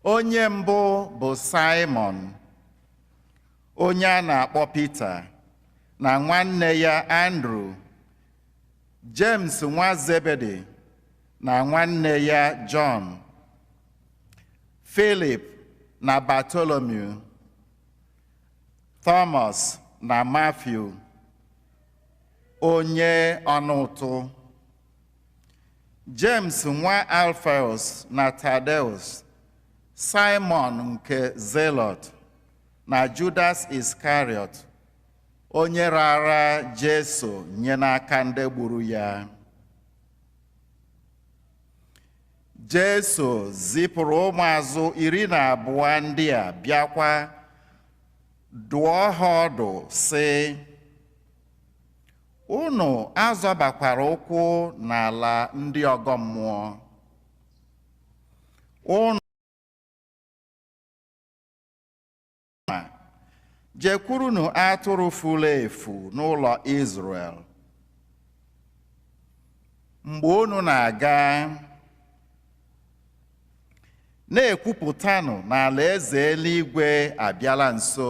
Onye mbụ bụ Saịmọn, onye a na-akpọ Pita, na nwanne ya Andru, Jems nwa Zebedi na nwanne ya Jọn, Filip na Batolomiu, Tọmọs na Matiu, onye ọna ụtụ. Jems nwa Alfeus na Tadeus, Saịmọn nke Zelọt na Judas Iskarịọt, onye raara Jesu nye n'aka ndị gburu ya. Jesu zipụrụ ụmụazụ iri na abụọ ndị a bịakwa dụọ ha ọdụ sị Unu azọbakwara ụkwụ n'ala ndị ọgọ mmụọ. Unu jekwurunu atụrụ furu efu n'ụlọ Izrel. Mgbe unu na-aga, na-ekwupụtanụ na alaeze eluigwe abịala nso.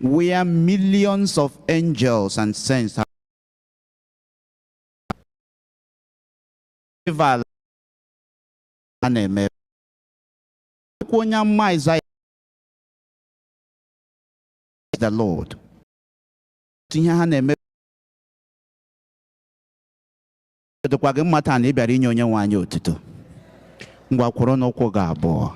where millions of angels and saints have a na-eme akwụkwọ onye amụma Aịzaya the Lord ihe ha na-eme ọ dịkwa gị mma taa na ị bịara inye onye nwe anyị otuto ngwa kwụrụ n'ụkwụ gị abụọ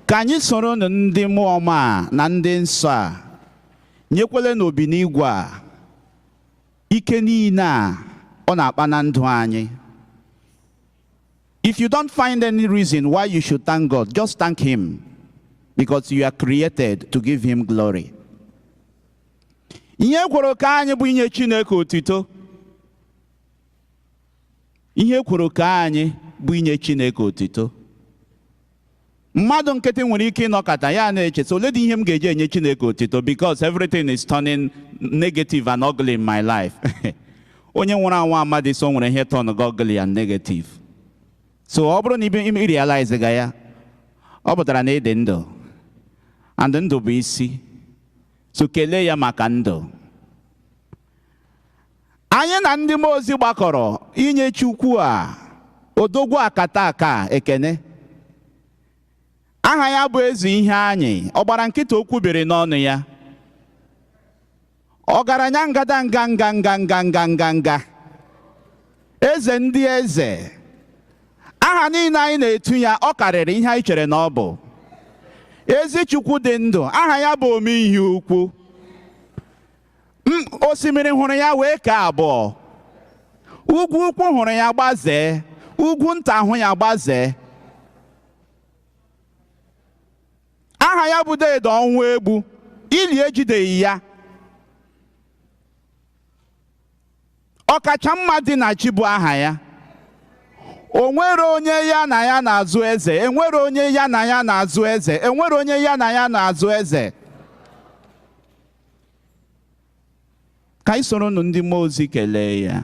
ka anyị soronụ ndị mmụọ ọma a na ndị nsọ a nyekwele n'Obinigwe a ike niile a ọ na-akpa na ndụ anyị if you don't find any reason why you should thank God just thank him because you are created to give him glory ihe e kworo kee anyị bụ inye Chineke otito ihe e kworo kee anyị bụ inye Chineke otito mmadụ nkịtị nwere ike ịnọkata ya na-eche sị olee dị ihe m ga-eji enye Chineke otito because everything is turning negative and ugly in my life onye nwụrụ anwụ amadị sị o nwere ihe turn ugly and negative so ọ bụrụ na ị realize ga ya ọ pụtara na ị dị ndụ and ndụ bụ isi so kelee ya maka ndụ anyị na ndị mmụọ ozi gbakọrọ inye Chukwu a odogwu akataka ekene aha ya bụ eze ihe anyị ọ gbara nkịtị okwu biri n'ọnụ ya ọgaranya ngada nga nga nga nga nga eze ndị eze aha niile anyị na-etu ya ọ karịrị ihe anyị chere na ọ bụ ezi chukwu dị ndụ aha ya bụ ome ihe ukwu osimiri hụrụ ya wee kee abụọ ugwu ukwu hụrụ ya gbazee ugwu nta hụ ya gbazee aha ya bụ deede ọnwụ egbu ili ejideghị ya ọkacha mma dị na chi bụ aha ya o nwere onye ya na ya na-azọ eze enwere onye ya na ya na-azọ eze enwere onye ya na ya na-azọ eze ka anyị soronụ ndị mmụọ ozi kelee ya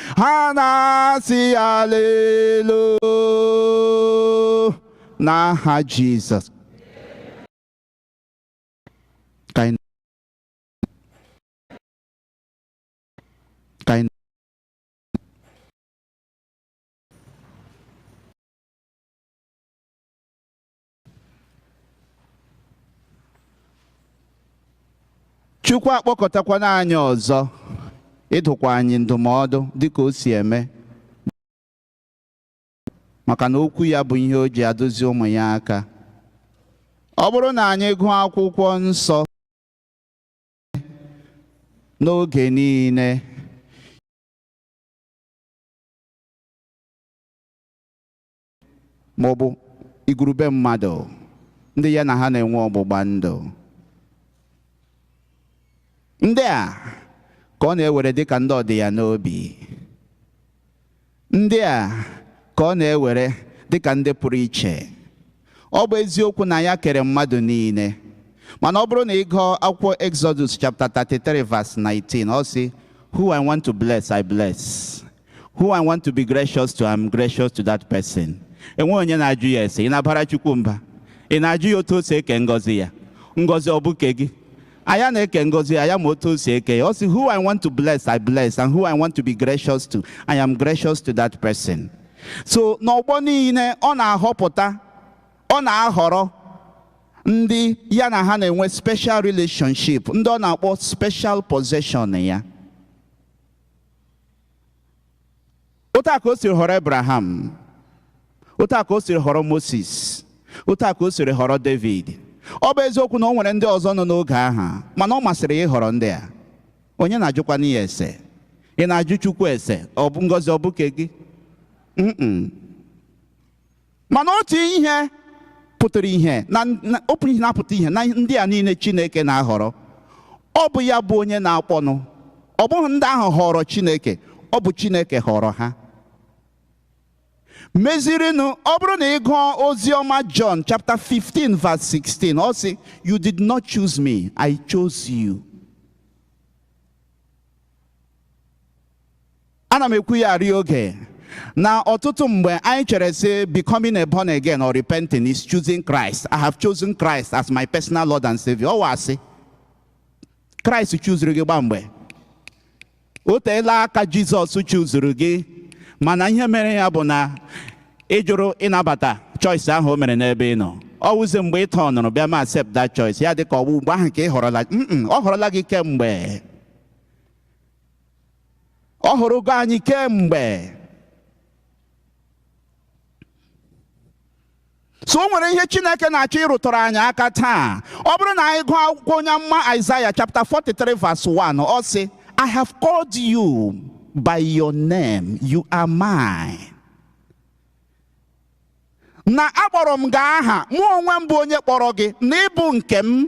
ha na-asị alelu n'aha Jizọs Chukwu akpọkọtakwana anyị ọzọ ịdụkwa anyị ndụmọdụ dịka o si eme maka na okwu ya bụ ihe o ji adụzi ụmụ ya aka ọ bụrụ na anyị gụọ akwụkwọ nsọ n'oge niile ma ọ bụ igwurube mmadụ ndị ya na ha na-enwe ọgbụgba ndụ ndị a ka ọ na-ewere dị ka ndị ọ dị ya n'obi ndị a ka ọ na-ewere dị ka ndị pụrụ iche ọ bụ eziokwu na ya kere mmadụ niile mana ọ bụrụ na ị gụọ akwụkwọ Exodus chapter 33 verse 19 ọ sị who I want to bless I bless who I want to be gracious to, I'm gracious to that person. Enwehị onye na-ajụ ya ese, ị na-abara Chukwu mba. Ị na-ajụ ya otu o si eke ngọzi ya. Ngọzi ọ bụ ke gị. Aya na-eke ngọzi ya, ya ma otu o si eke ya. Ọ sị, who I want to bless, I bless, and who I want to be gracious to, I am gracious to that person. So n'ọgbọ niile, ọ na-ahọpụta, ọ na-ahọrọ ndị ya na ha na-enwe special relationship, ndị ọ na-akpọ special possession ya. otu a ka o siri họrọ Abraham otu a ka o siri họrọ Moses otu a ka o siri họrọ David ọ bụ eziokwu na o nwere ndị ọzọ nọ n'oge ahụ mana ọ masịrị ya ịhọrọ ndị a onye na-ajụkwanị ya ese ị na-ajụ Chukwu ese ọ bụ ngọzi ọ bụ ke gị Mm-mm. Mana otu ihe pụtara ihe na otu ihe na-apụta ihe na ndị a niile Chineke na-ahọrọ ọ bụ ya bụ onye na-akpọnụ ọ bụghị ndị ahụ họrọ Chineke ọ bụ Chineke họrọ ha mezirinụ ọ bụrụ na ị gụọ ozi ọma John chapter 15 verse 16 ọ sị you did not choose me I chose you ana m ekwu ya arị oge na ọtụtụ mgbe anyị chere sị becoming a born again or repenting is choosing Christ I have chosen Christ as my personal Lord and Savior ọ wụ asị Christ chuzuru gị gba mgbe o teela aka Jizọs chuzuru gị mana ihe mere ya bụ na ị jụrụ ịnabata choice ahụ o mere n'ebe ị nọ ọ wụzi mgbe ị tọnụrụ bịa ma accept that choice ya dị ka ọ bụ ugbo ahụ ka ị họrọla Mm-mm, ọ họrọla gị kemgbe ọ họrọgo anyị kemgbe so o nwere ihe Chineke na-achọ ịrụtụrụ anyị aka taa ọ bụrụ na anyị gụọ akwụkwọ onye amụma Isaiah chapter 43 verse 1 ọ sị I have called you by your name you are mine na akpọrọ m gị aha mụ onwe m bụ onye kpọrọ gị na ị bụ nke m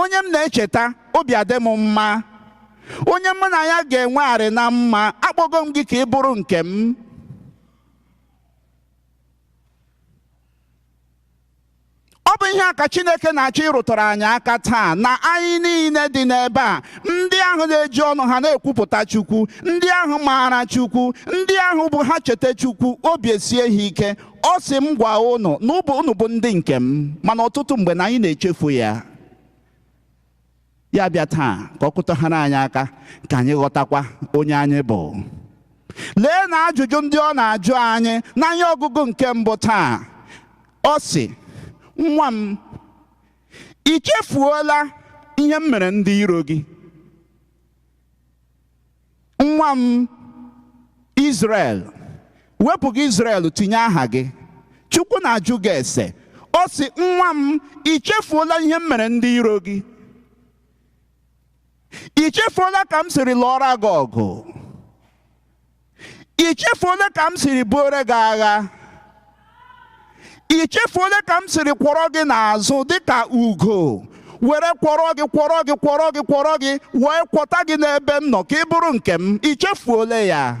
onye m na-echeta obi adị m mma onye mụ na ya ga-enwegharị na mma akpọgo m gị ka ị bụrụ nke m ọ bụ ihe a ka Chineke na-achọ ịrụtụrụ anyị aka taa na anyị niile dị n'ebe a ndị ahụ na-eji ọnụ ha na-ekwupụta Chukwu ndị ahụ maara Chukwu ndị ahụ bụ ha cheta Chukwu obi esie ha ike ọ sị m gwa ụnụ na ụnụ bụ ndị nke m mana ọtụtụ mgbe na anyị na-echefu ya ya bịa taa ka ọ kụtaghara anyị aka ka anyị ghọtakwa onye anyị bụ lee na ajụjụ ndị ọ na-ajụ anyị na ihe ọgụgụ nke mbụ taa ọ sị nwa m i chefuola ihe m mere ndị iro gị nwa m Izrel wepụ gị Izrel tinye aha gị Chukwu na-ajụ gị ese ọ sị nwa m i chefuola ihe m mere ndị iro gị i chefuola ka m siri lụọra gị ọgụ i chefuola ka m siri buore gị agha i chefuola ka m siri kwọrọ gị n'azụ dịka ugo were kwọrọ gị kwọrọ gị kwọrọ gị kwọrọ gị wee kwọta gị n'ebe m nọ ka ị bụrụ nke m i chefuola ya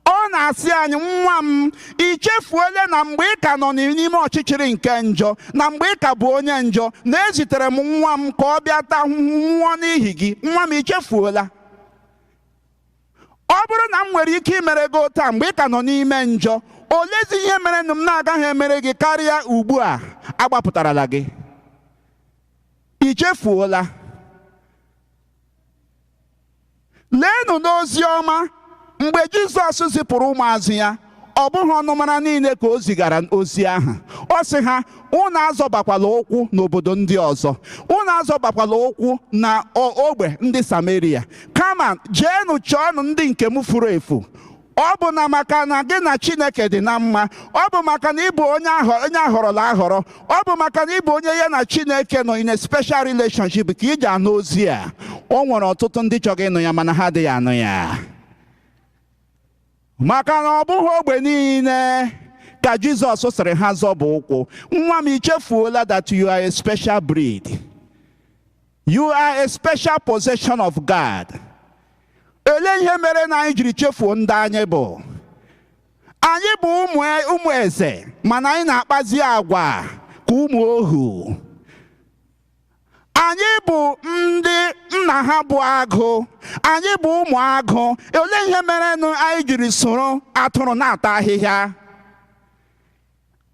ọ na-asị anyị nwa m i chefuola na mgbe ị ka nọ n'ime ọchịchịrị nke njọ na mgbe ị ka bụ onye njọ na ezitere m nwa m ka ọ bịa taa ahụhụ nwụọ n'ihi gị nwa m i chefuola ọ bụrụ na m nwere ike imere gị otu a mgbe ị ka nọ n'ime njọ olezi ihe merenụ m na-agaghị emere gị karịa ugbu a agbapụtarala gị i chefuola leenụ n'ozi ọma mgbe jizọs zipụrụ ụmụazụ ya ọ bụghị ọnụmara niile ka o zigara ozi ahụ ọ sị ha unu azọbakwala ụkwụ n'obodo ndị ọzọ unu azọbakwala ụkwụ na ogbe ndị sameria kama jeenụ chọọnụ ndị nke m furu efu ọ bụ na maka na gị na chineke dị na mma ọ bụ maka na ị bụ onye a họrọla ahọrọ ọ bụ maka na ị bụ onye ya na chineke nọ in a special relationship ka i ji anụ ozi a o nwere ọtụtụ ndị chọrọ ịnụ ya mana ha adịghị anụ ya maka na ọ bụghị ogbe niile ka jizọs sịrị ha zọba ụkwụ nwa m i chefuola that you are a special breed you are a special possession of god olee ihe mere na anyị jiri chefuo ndị anyị bụ anyị bụ ụmụ eze mana anyị na-akpazi agwa ka ụmụ ohu anyị bụ ndị nna ha bụ agụ anyị bụ ụmụ agụ olee ihe merenụ anyị jiri soro atụrụ na-ata ahịhịa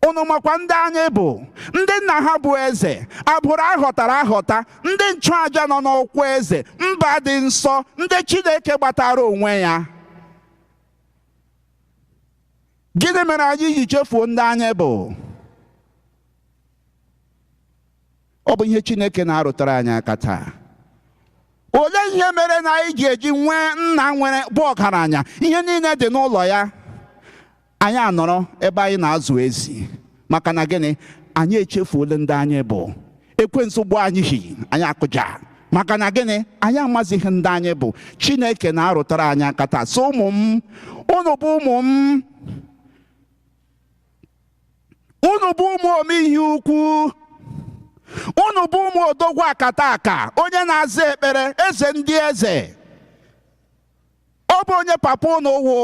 unu makwa ndị anyị bụ ndị nna ha bụ eze agbụrụ a họtara ahọta ndị nchụaja nọ n'ọkwa eze mba dị nsọ ndị chineke gbatara onwe ya gịnị mere anyị ji chefuo ndị anyị bụ ọ bụ ihe chineke na-arụtara anyị aka taa olee ihe mere na anyị ji eji nwee nna nwere bụ ọgaranya ihe niile dị n'ụlọ ya anyị anọrọ ebe anyị na-azụ ezi maka na gịnị anyị echefuole ndị anyị bụ ekwensu gbụ anyị hi anyị akụja maka na gịnị anyị amazighị ndị anyị bụ chineke na-arụtara anyị aka taa so ụmụ m unu bụ ụmụ m unu bụ ụmụ ome ihe ukwu unu bụ ụmụ odogwu akataka onye na-aza ekpere eze ndị eze ọ bụ onye papa unu wụ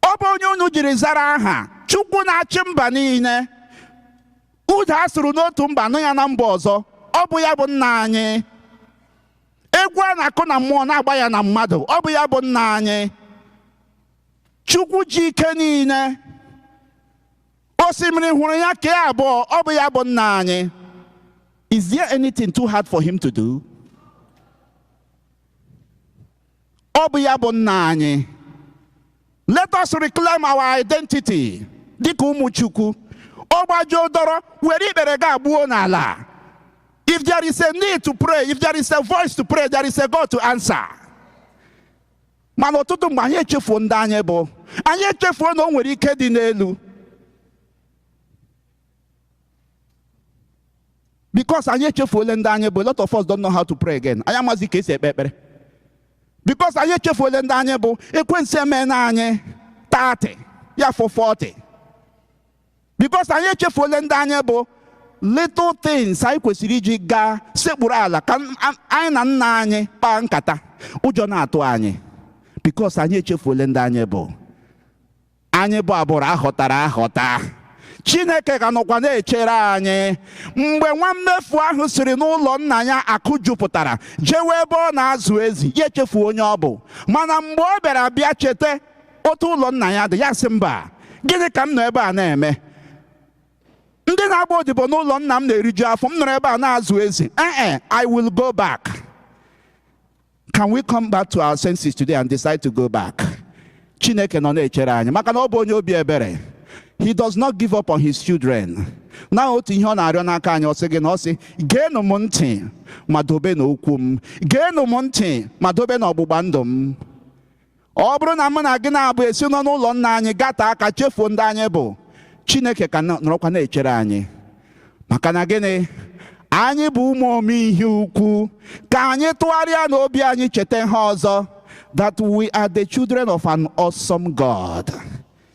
ọ bụ onye unu jiri zara aha chukwu na-achị mba niile udu a sụrụ n'otu mba nụ ya na mba ọzọ ọ bụ ya bụ nna anyị egwu a na-akụ na mmụọ na-agba ya na mmadụ ọ bụ ya bụ nna anyị chukwu ji ike niile osimiri hụrụ ya kee abụọ ọ bụ ya bụ nna anyị is there anything too hard for him to do ọ bụ ya bụ nna anyị let us reclaim our identity dịka ụmụ chukwu ọ gbajuo dọrọ were ikpere gaa gbuo n'ala if there is a need to pray if there is a voice to pray there is a God to answer mana ọtụtụ mgbe anyị echefuo ndị anyị bụ anyị echefuo na o nwere ike dị n'elu because anyị echefuole ndị anyị bụ a lot of us don't know how to pray again anyị amazi ka e si ekpe ekpere because anyị echefuole ndị anyị bụ ekwensu emeena anyị 30 ya fọ 40 because anyị echefuole ndị anyị bụ little things anyị kwesịrị iji gaa sekpuru ala ka anyị na nna anyị kpaa nkata ụjọ na-atụ anyị because anyị echefuole ndị anyị bụ anyị bụ agbụrụ a họtara ahọta chineke ka nọkwa na-echere anyị mgbe nwa mmefu ahụ siri n'ụlọ nna ya akụ jupụtara jewe ebe ọ na-azụ ezi ya echefu onye ọ bụ mana mgbe ọ bịara bịa cheta otu ụlọ nna ya dị ya sị mba gịnị ka m nọ ebe a na-eme ndị na-agba odibo n'ụlọ nna m na-eriju afọ m nọrọ ebe a na-azụ ezi ee eh, eh, I will go back can we come back to our senses today and decide to go back Chineke nọ na-echere anyị maka na ọ bụ onye obi ebere he does not give up on his children na otu ihe ọ na-arịọ n'aka anyị ọ sị gị na ọ sị geenụ m ntị ma dobenụ okwu m geenụ m ntị ma dobenụ ọgbụgba ndụ m ọ bụrụ na mụ na gị naabọ esi nọ n'ụlọ nna anyị gata aka chefuo ndị anyị bụ chineke ka nọrọkwa na-echere anyị maka na gịnị anyị bụ ụmụ ome ihe ukwu ka anyị tụgharịa n'obi anyị cheta ihe ọzọ that we are the children of an awesome God.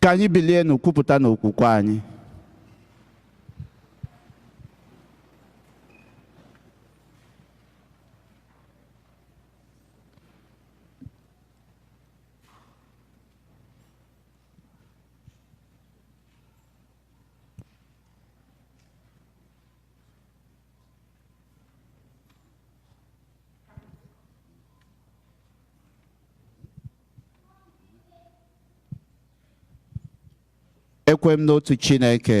ka anyị bilienụ kwupụtanụ okwukwe anyị ekwe m n'otu Chineke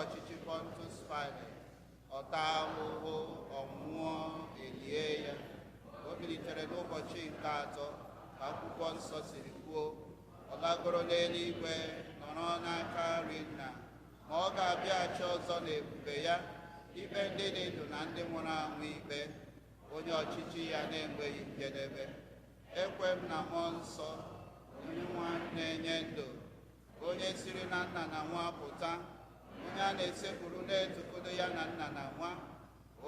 ọchịchị Pontus Pilate ọ taa ahụhụ ọ nwụọ e lie ya o bilitere n'ụbọchị nke atọ ka akwụkwọ nsọ siri kwuo ọ lagoro n'eluigwe nọrọ n'aka nri nna ma ọ ga-abịaghachi ọzọ n'ebube ya ikpe ndị dị ndụ na ndị nwụrụ anwụ ikpe onye ọchịchị ya na-enweghị njedebe ekwe m na mmụọ nsọ Dinwenụ na-enye ndụ onye siri na nna na nwa pụta onye a na-esekpuru na-etukodo ya na nna na nwa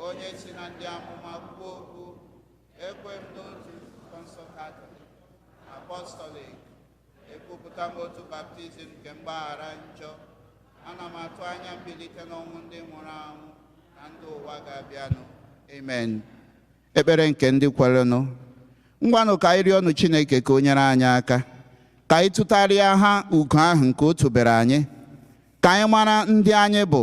onye si na ndị amụma kwuo okwu ekwe m n'otu nzukọ nsọ katọlik apọstọlik ekwupụta m otu baptizim nke mgbaghara njọ ana m atụ anya mbilite n'ọnwụ ndị nwụrụ anwụ na ndụ ụwa ga-abịanụ amen ekpere nke ndị kwerenụ ngwanụ ka anyị rịọnụ chineke ka o nyere anyị aka ka anyị tụtarịa ha ugo ahụ nke o tubere anyị ka anyị mara ndị anyị bụ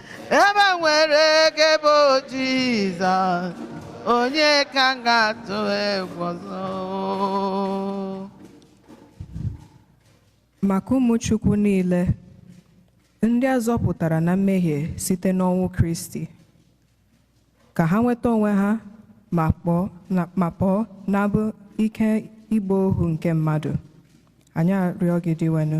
ebe m nwere gị bụ Jizọs onye ka m ga-atụ egwu ọzọ maka ụmụ Chukwu niile ndị a zọpụtara na mmehie site n'ọnwụ Kristi ka ha nweta onwe ha ma pụọ n'agbụ ike ịgba ohu nke mmadụ anyị arịọ gị Dinwenụ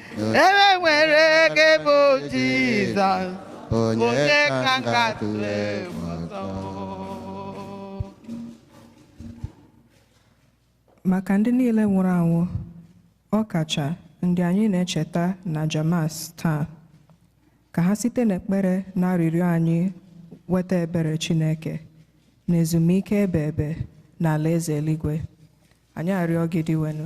ebe m nwere gị bụ Jizọs onye ka m ga-atụ egwu ọzọ maka ndị niile nwụrụ anwụ ọ kacha ndị anyị na-echeta n'aja Mas taa ka ha site n'ekpere na arịrịọ anyị nweta ebere chineke na ezumike ebeebe n'alaeze eluigwe anyị arịọ gị Dinwenụ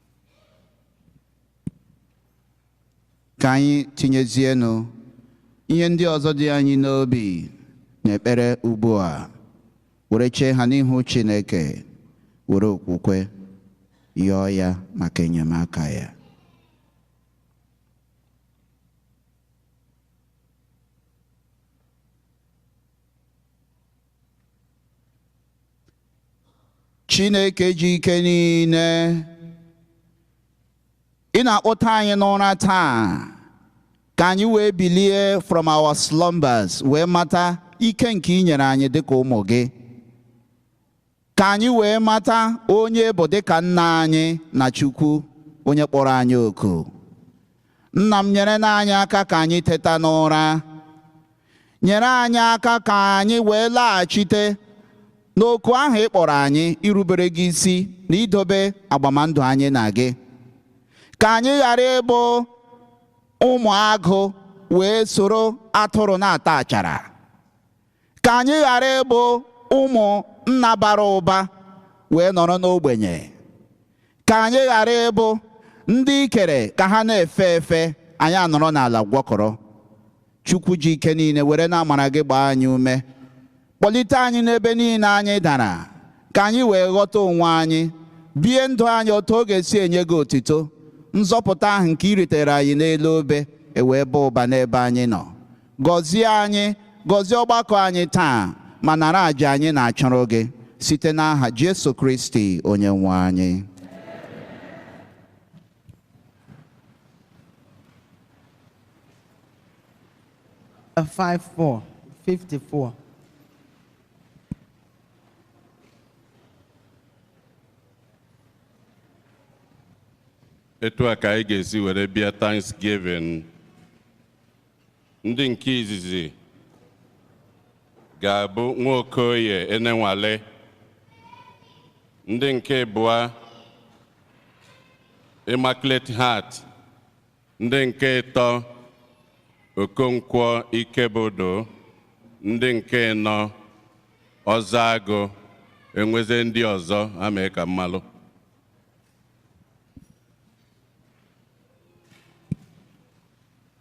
ka anyị tinyezienụ ihe ndị ọzọ dị anyị n'obi n'ekpere ugbu a were chee ha n'ihu Chineke were okwukwe yọọ ya maka enyemaka ya Chineke ji ike niile ị na-akpọta anyị n'ụra taa ka anyị wee bilie from our slumbers wee mata ike nke ị nyere anyị dịka ụmụ gị Ka anyị wee mata onye ị bụ dịka Nna anyị na Chukwu onye kpọrọ anyị oku. Nna m nyerenụ anyị aka ka anyị teta n'ụra. Nyere anyị aka ka anyị wee laghachite n'oku ahụ ị kpọrọ anyị irubere gị isi na idobe agbamndụ anyị na gị. Ka anyị ghara ịbụ ụmụ agụ wee soro atụrụ na-ata achara. ka anyị ghara ịbụ ụmụ nna bara ụba wee nọrọ n'ogbenye ka anyị ghara ịbụ ndị i kere ka ha na-efe efe anyị anọrọ n'ala gwọkọrọ chukwu ji ike niile werenụ amara gị gbaa anyị ume kpọlite anyị n'ebe niile anyị dara ka anyị wee ghọta onwe anyị bie ndụ anyị otu ọ ga-esi enye gị otito nzọpụta ahụ nke i ritere anyị n'elu obe ewee baa ụba n'ebe anyị nọ Gọzie anyị, gọzie ọgbakọ anyị taa, ma nara aja anyị na-achụrụ gị site n'aha Jesu Kristi Onyenwe anyị. Uh, 5 4 54. etu a ka anyị ga-esi were bịa Thanksgiving ndị nke izizi ga-abụ nwokoye enenwali ndị nke ịbụa immaculate heart ndị nke ịtọ okonkwo ikebudu ndị nke ịnọ ọzọ agụ enweze ndị ọzọ ha mee ka m malụ